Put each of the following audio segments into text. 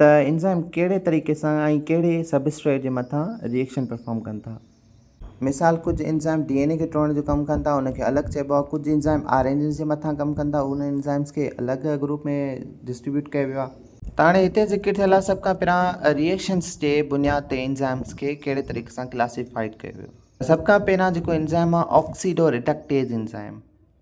ته انزائم ڪهڙي طريقي سان ۽ ڪهڙي سبسٽريٽ جي مٿان ري ايڪشن پرفارم ڪن ٿا. مثال، ڪجهه انزائم ڊي اين اي کي ٽوڙڻ جو ڪم ڪن ٿا ان کي الڳ چئبو آهي، ڪجهه انزائم آر اين ايز جي مٿان ڪم ڪن ٿا انهن انزائمز کي الڳ گروپ ۾ ڊسٽريبيوٽ ڪيو ويو آهي. ته هاڻي هتي ذڪر ٿيل آهي سڀ کان پهريان ري ايڪشنز جي بنياد تي انزائمز کي ڪهڙي طريقي سان ڪلاسيفائيڊ ڪيو ويو. سڀ کان پهريان جيڪو انزائم آهي آڪسيڊو ريڊڪٽيز انزائم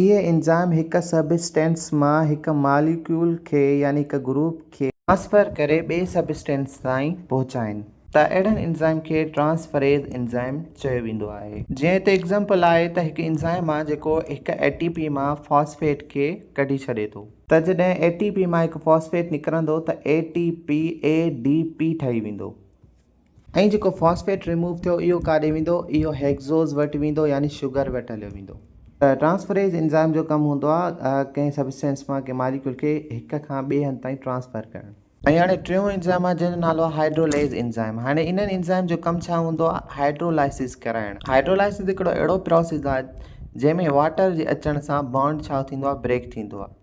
اهي انزائم هڪ سبسٽينس مان هڪ ماليڪيول کي يعني هڪ گروپ کي ٽرانسفر ڪري ٻئي سبسٽينس تائين پهچائين ٿا اهڙن انزائم کي ٽرانسفريز انزائم چيو ويندو آهي. جيئن هتي ايگزامپل آهي ته هڪ انزائم آهي جيڪو هڪ اي ٽي پي مان فاسفيٽ کي ڪڍي ڇڏي ٿو. ته جڏهن اي ٽي پي مان هڪ فاسفيٽ نڪرندو ته A T P A D P ٺهي ويندو. ۽ جيڪو فاسفيٽ ريموو ٿيو اهو ڪاڏي ويندو اهو هيڪزوز وٽ ويندو يعني شگر وٽ هليو ويندو. ٽرانسفريز انزائم جو ڪم هوندو آهي ڪنهن سبسٽينس مان ڪنهن ماليڪيول کي هڪ کان ٻئي هنڌ تائين ٽرانسفر ڪرڻ. ۽ هاڻي ٽيون انزائم آهي جنهن جو نالو آهي هائڊروليز انزائم هاڻي انهن انزائم جو ڪم ڇا هوندو آهي هائڊرولائسز ڪرائڻ هائڊرولائسز هڪڙو اهڙو پروسيز آهي جنهن ۾ واٽر جي اچڻ سان بانڊ ڇا ٿيندو آهي بريڪ ٿيندو آهي.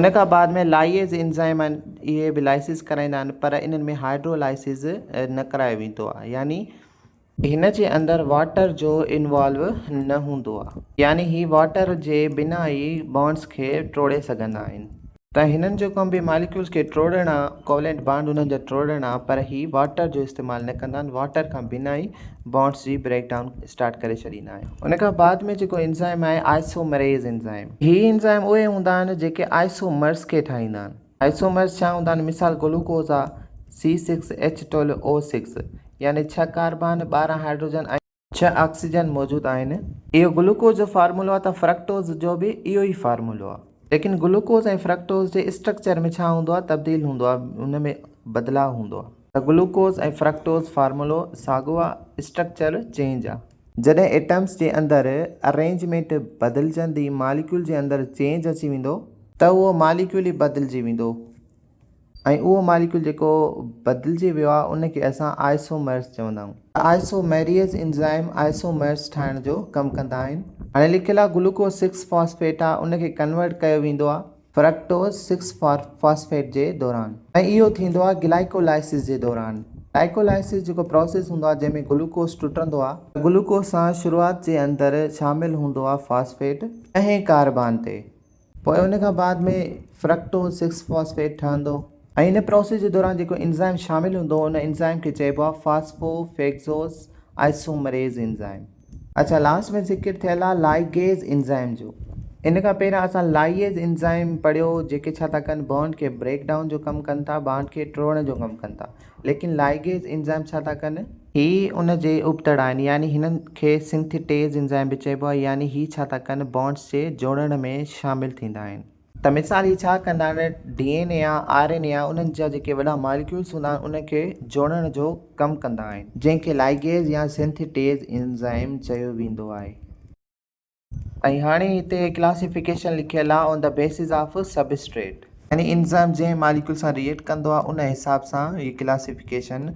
ان کان بعد ۾ لائيز انزائم آهن اهي به لائيسز ڪرائيندا آهن پر انهن ۾ هائڊرو لائيسز نه ڪرايو ويندو آهي يعني هن جي اندر واٽر جو انوالو نه هوندو آهي يعني هي واٽر جي بنا ئي بانڊز کي ٽوڙي سگهندا آهن. ته هنن جو ڪم به ماليڪيولز کي ٽوڙڻ آهي ڪوولنٽ بانڊ انهن جا ٽوڙڻ آهي پر هي واٽر جو استعمال نه ڪندا آهن واٽر کان بنا ئي بانڊس جي بريڪ ڊائون اسٽارٽ ڪري ڇڏيندا آهيون ان کان بعد ۾ جيڪو انزائم آهي آئسومريز انزائم هي انزائم اهي هوندا آهن جيڪي آئسومرز کي ٺاهيندا آهن آئسومرز ڇا هوندا آهن مثال گلوڪوز آ C six H twelve O six يعني ڇهه ڪاربان ٻارهن هائڊروجن ۽ ڇهه آڪسيجن موجود آهن اهو گلوڪوز جو فارمولو آهي ته فرڪٽوز جو به اهو ئي فارمولو آهي ليڪن گلوڪوز ۽ فرڪٽوز جي اسٽرڪچر ۾ ڇا هوندو آهي تبديل هوندو آهي ان ۾ بدلاء هوندو آهي. ته گلوڪوز ۽ فرڪٽوز فارمولو ساڳيو آ اسٽرڪچر چينج آ. جڏهن ايٽمس جي اندر ارينجمينٽ بدلجندي ماليڪيول جي اندر چينج اچي ويندو. ته اهو ماليڪيول ئي بدلجي ويندو ۽ اهو ماليڪيول جيڪو بدلجي ويو آ ان کي اسان آئسومرز چوندا آهيون. آئسومريز انزائم آئسومرز ٺاهڻ جو ڪم ڪندا آهن. هاڻي لکيل آ گلوڪوز سڪس فاسفيٽ آ ان کي ڪنورٽ ڪيو ويندو آ. فرڪٽوز سڪس فاسفيٽ جي دوران ۽ اهو ٿيندو آهي گلائيڪولائسز جي دوران گلائيڪولائسز جيڪو پروسيس هوندو آهي جنهن ۾ گلوڪوز ٽٽندو آهي ته گلوڪوز سان شروعات جي اندر شامل هوندو آهي فاسفيٽ ڏهين ڪاربان تي پوء ان کان بعد ۾ فرڪٽوز سڪس فاسفيٽ ٺهندو ۽ ان پروسيس جي دوران جيڪو انزائم شامل هوندو ان انزائم کي چئبو آهي فاسفو فيگزوز آئسومريز انزائم. اچا لاسٽ ۾ ذڪر ٿيل آ لائيگيز انزائم جو ان کان پهريان اسان لائييز انزائم پڙهيو جيڪي ڇا ٿا ڪن بانڊ کي بريڪ ڊائون جو ڪم ڪن ٿا بانڊ کي ٽوڙڻ جو ڪم ڪن ٿا ليڪن لائيگيز انزائم ڇا ٿا ڪن هي ان جي ابتڙا آهن يعني هنن کي سنٿيٽيز انزائم به چئبو آهي يعني هي ڇا ٿا ڪن بانڊز جي جوڙڻ ۾ شامل ٿيندا آهن. ته مثال هي ڇا ڪندا آهن ڊي اين اي يا آر اين اي يا انهن جا جيڪي وڏا ماليڪيولز هوندا آهن ان کي جوڙڻ جو ڪم ڪندا آهن. جنهن کي لائيگيز يا سنٿيٽيز انزائم چيو ويندو آهي. ۽ هاڻي هتي ڪلاسيفڪيشن لکيل آهي on the basis of substrate. يعني انزائم جنهن ماليڪيول سان ريئيڪٽ ڪندو آهي ان حساب سان هي ڪلاسيفڪيشن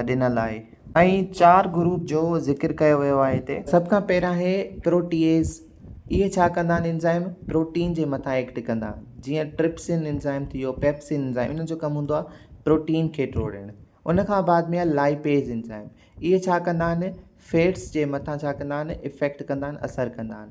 ڏنل آهي. ۽ چار گروپ جو ذڪر ڪيو ويو آهي هتي. سڀ کان پهريان هي پروٽيئيز. اهي ڇا ڪندا آهن انزائم پروٽين جي مٿان ايڪٽ ڪندا. جيئن ٽرپسن انزائم ٿي ويو، پيپسن انزائم انهن جو ڪم هوندو آهي پروٽين کي ٽوڙڻ. ان کان بعد ۾ آهي لائپيز انزائم. اهي ڇا ڪندا آهن فيٽس جي مٿان ڇا ڪندا آهن افيڪٽ ڪندا آهن اثر ڪندا آهن.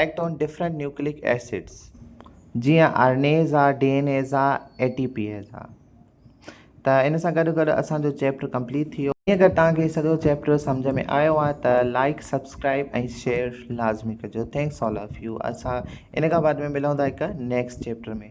Act on different nucleic acids جيئن آرنيز آ ڊي اين ايز آ اي ٽي پي ايز آ ته ان سان گڏ گڏ اسانجو چيپٽر ڪمپليٽ ٿي ويو اگر توهان کي سڄو چيپٽر سمجھ ۾ آيو آ ته لائيڪ سبسڪرائيب ۽ شيئر لازمي ڪجو ٿينڪس آل آف يو اسان ان کان بعد ۾ ملون ٿا هڪ نيڪسٽ چيپٽر ۾